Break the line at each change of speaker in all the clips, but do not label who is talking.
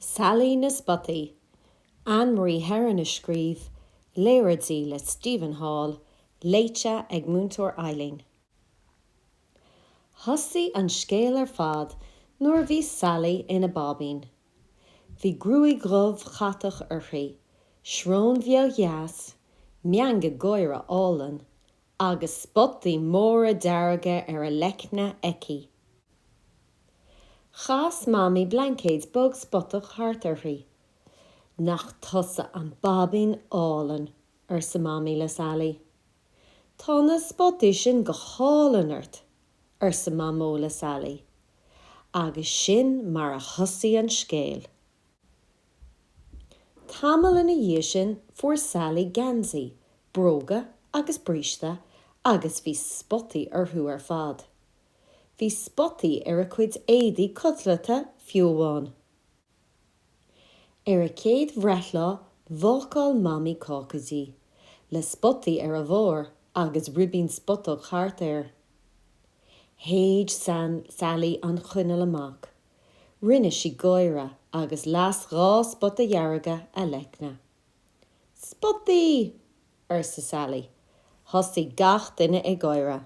Sally na Spotaí, Anne Marie Herron a scríobh, léaraidí le Stephen Hall, léite ag Múinteoir Eileen. Thosaigh an scéal ar fad nuair a bhí Sally ina bábín. Bhí gruaig dhubh chatach uirthi, srón bheag dheas, meangadh gáire álainn, agus spotaí móra dearga ar a leicne aici. Chas Mamaí blaincéad bog spotach thart uirthi. 'Nach tusa an bábín álainn! arsa Mamaí le Sally. 'Tá na spotaí sin go hálainn ort! arsa Mamó le Sally. Agus sin mar a thosaigh an scéal. Tamall ina dhiaidh sin fuair Sally geansaí, bróga agus bríste agus bhí spotaí orthu ar fad. Bhí spotaí ar a cuid éadaí codlata, fiú amháin. Ar a céad bhreithlá bhácáil Mamaí cáca di, le spotaí ar a bharr agus ribín spotach thart air. Shéid Sally an choinneal amach, rinne sí gáire agus las dhá spota dhearga a leicne. Spotaí! arsa Sally. Thosaigh gach duine ag gáire.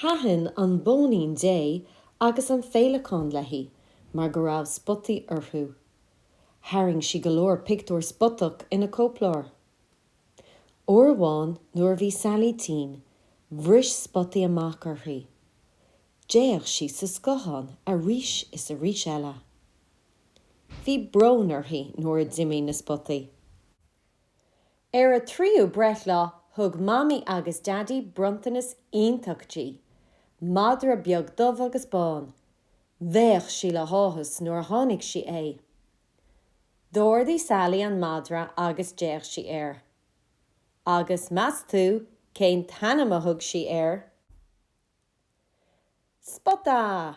Thaitin an Bóinín Dé agus an Féileacán léi mar go raibh spotaí orthu. Tharraing sí go leor pictiúr spotach ina cóipleabhar. Uair amháin nuair a bhí Sally tinn, bhris spotaí amach uirthi. D'fhéach sí sa scáthán arís is arís eile. Bhí brón uirthi nuair a d'imigh na spotaí. Ar a tríú breithlá, thug Mamaí agus Daidí bronntanas iontach di, madra beag dubh agus bán. Bhéic sí le háthas nuair a chonaic sí é. D'ardaigh Sally an madra agus d'fhéach sí air. Agus meas tú cén t-ainm a thug sí air? Spota!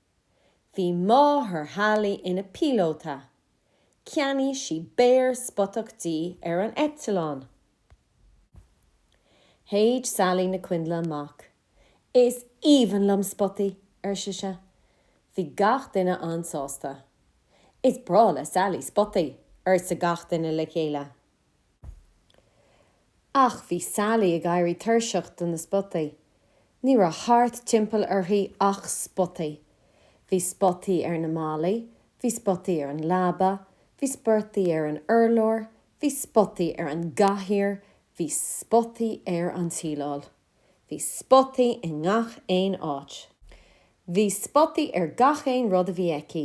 Bhí máthair Shally ina píolóta. Cheannaigh sí béar spotach di ar an eitleán. Shéid Sally na coinnle amach. 'Is aoibhinn liom spotaí! ar sise. Bhí gach duine an-sásta. 'Is breá le Sally spotaí! arsa gach duine le chéile. Ach bhí Sally ag éirí tuirseach de na spotaí. Ní raibh thart timpeall uirthi ach spotaí. Bhí spotaí ar na mballaí, bhí spotaí ar an leaba, bhí spotaí ar an urlár, bhí spotaí ar an gcathaoir, bhí spotaí ar an tsíleáil. Bhí spotaí i ngach aon áit. Bhí spotaí ar gach aon rud a bhí aici.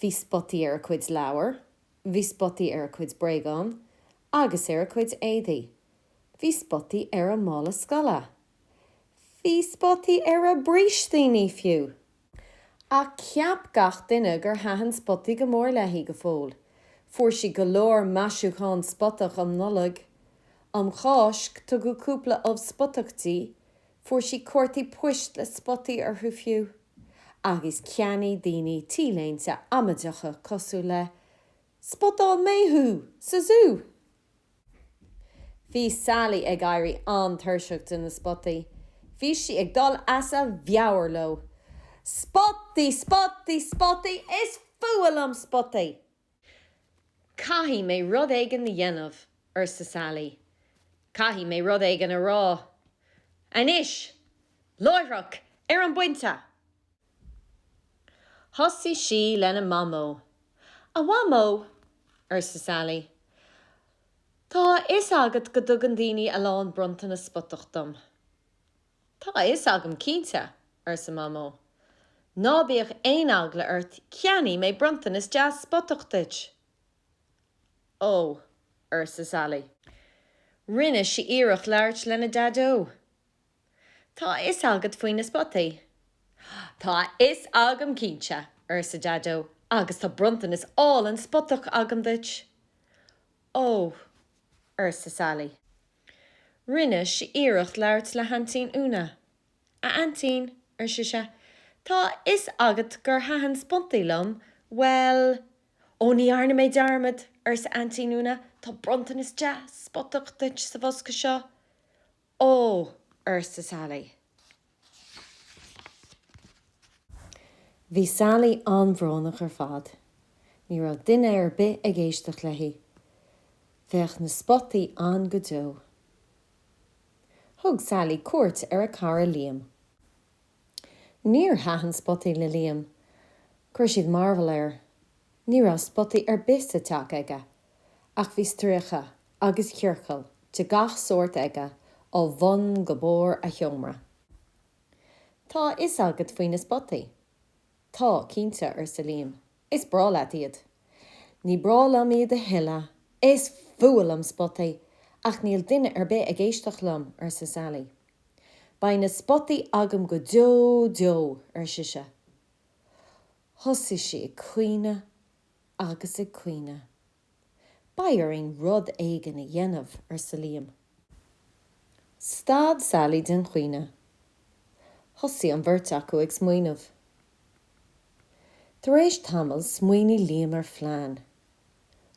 Bhí spotaí ar a cuid leabhar. Bhí spotaí ar a cuid bréagán agus ar a cuid éadaí. Bhí spotaí ar a mála scoile. Bhí spotaí ar a brístíní fiú! Ach cheap gach duine gur thaitin spotaí go mór léi go fóill. Fuair sí go leor maisiúchán spotach um Nollaig. Um Cháisc tugadh cúpla ubh spotach di, Fuair sí cártaí poist le spotaí orthu fiú, agus cheannaigh daoine T-léinte amaideacha cosúil le 'Spotáil mé thú! sa zú! Bhí Sally ag éirí an-tuirseach de na spotaí. Bhí sí ag dul as a meabhair leo. 'Spotaí, spotaí, spotaí! Is fuath liom spotaí! 'Caithfidh mé rud éigin a dhéanamh, arsa Sally. 'Caithfidh mé rud éigin a rá. Anois! Láithreach! Ar an bpointe! Thosaigh sí lena Mamó. 'A Mhamó, arsa Sally. 'Tá a fhios agat go dtugann daoine a lán bronntanas spotach dom. Tá a fhios agam cinnte, arsa Mamó. Ná bíodh aon eagla ort, ceannóidh mé bronntanas deas spotach duit. Ó, arsa Sally. Rinne sí iarracht labhairt lena Daideo. Tá a fhios agat faoi na spotaí? Tá a fhios agam cinnte, arsa Daideo, agus tá bronntanas álainn spotach agam duit. Ó, arsa Sally. Rinne sí iarracht labhairt le hAintín Úna. 'A aintín, ar sise, 'tá a fhios agat gur thaitin spotaí liom, bhuel. 'Ó, ní dhearna mé dearmad, arsa Aintín Úna, 'tá bronntanas deas spotach duit sa bhosca seo. 'Ó, arsa Sally. Bhí Sally an-bhrónach ar fad. Ní raibh duine ar bith ag éisteacht léi. Bheadh na spotaí ann go deo. Thug Sally cuairt ar a cara Liam. Níor thaitin spotaí le Liam. Chuir siad mearbhall air. Ní raibh spotaí ar bith sa teach aige ach bhí stríoca agus ciorcail de gach sórt aige ó bhun go barr a sheomra. Tá a fhios agat faoi na spotaí? Tá, cinnte, arsa Liam. Is breá leat iad. Ní breá liom iad a thuilleadh. Is fuath liom spotaí! Ach níl duine ar bith ag éisteacht liom, arsa Sally. Beidh na spotaí agam go deo deo, ar sise. Thosaigh sí ag caoineadh. agus ag caoineadh. Beidh orainn rud éigin a dhéanamh, arsa Liam. Stad Sally den chaoineadh. Thosaigh an bheirt acu ag smaoineamh. Tar éis tamaill smaoinigh Liam ar phlean.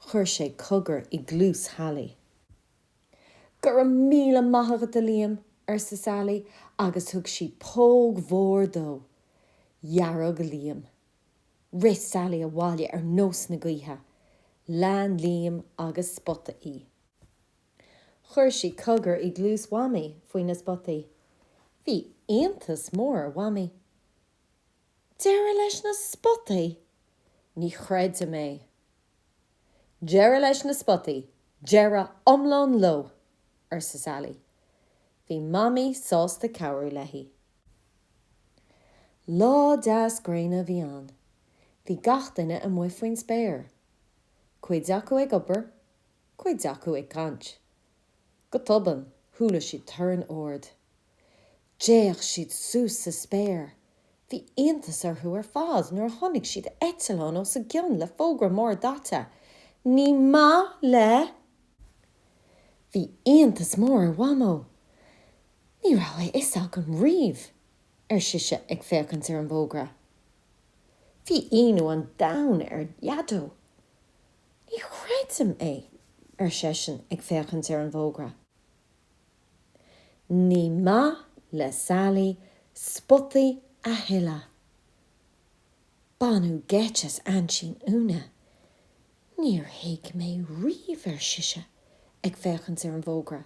Chuir sé cogar i gcluas Shally. Go raibh míle maith agat, a Liam, arsa Sally agus thug sí póg mhór dó. Dhearg Liam Rith Sally abhaile ar nós na gaoithe. Lean Liam agus Spota í. Chuir sí cogar i gcluas Mhamaí faoi na spotaí. Bhí iontas mór ar Mhamaí. 'Deireadh leis na spotaí! Ní chreidim é! Deireadh leis na spotaí, deireadh iomlán leo! arsa Sally. Bhí Mamaí sásta cabhrú léi. Lá deas gréine a bhí ann. Bhí gach duine amuigh faoin spéir. Cuid acu ag obair, cuid acu ag caint. Go tobann, chuala siad torann ard. D'fhéach siad suas sa spéir. Bhí iontas orthu ar fad nuair a chonaic siad eiteallán os a gcionn le fógra mór daite, Ní maith le Bhí iontas mór ar Mhamó. Ní raibh a fhios agam riamh, ar sise ag féachaint ar an bhfógra. Bhí ionadh an domhain ar Dhaideo. Ní chreidim é, ar seisean ag féachaint ar an bhfógra. Ní maith le Sally spotaí a thuilleadh. Baineadh geit as Aintín Úna. Níor thuig mé riamh, ar sise, ag féachaint ar an bhfógra.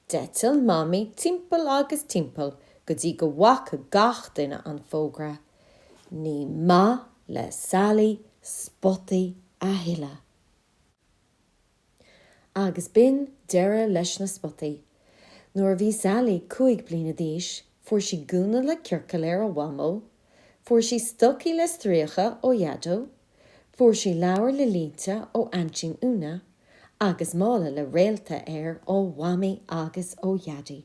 D'eitil Mamaí timpeall agus timpeall go dtí go bhfaca gach duine an fógra, Ní maith le Sally spotaí a thuilleadh. Agus b'in deireadh leis na spotaí. Nuair a bhí Sally cúig bliana d'aois, fuair sí gúna le ciorcal air ó Mhamó, fuair sí stocaí le stríoca ó Dhaideo, fuair sí leabhar le línte ó Aintín Úna, agus mála le réalta air ó Mhamaí agus ó Dhaidí.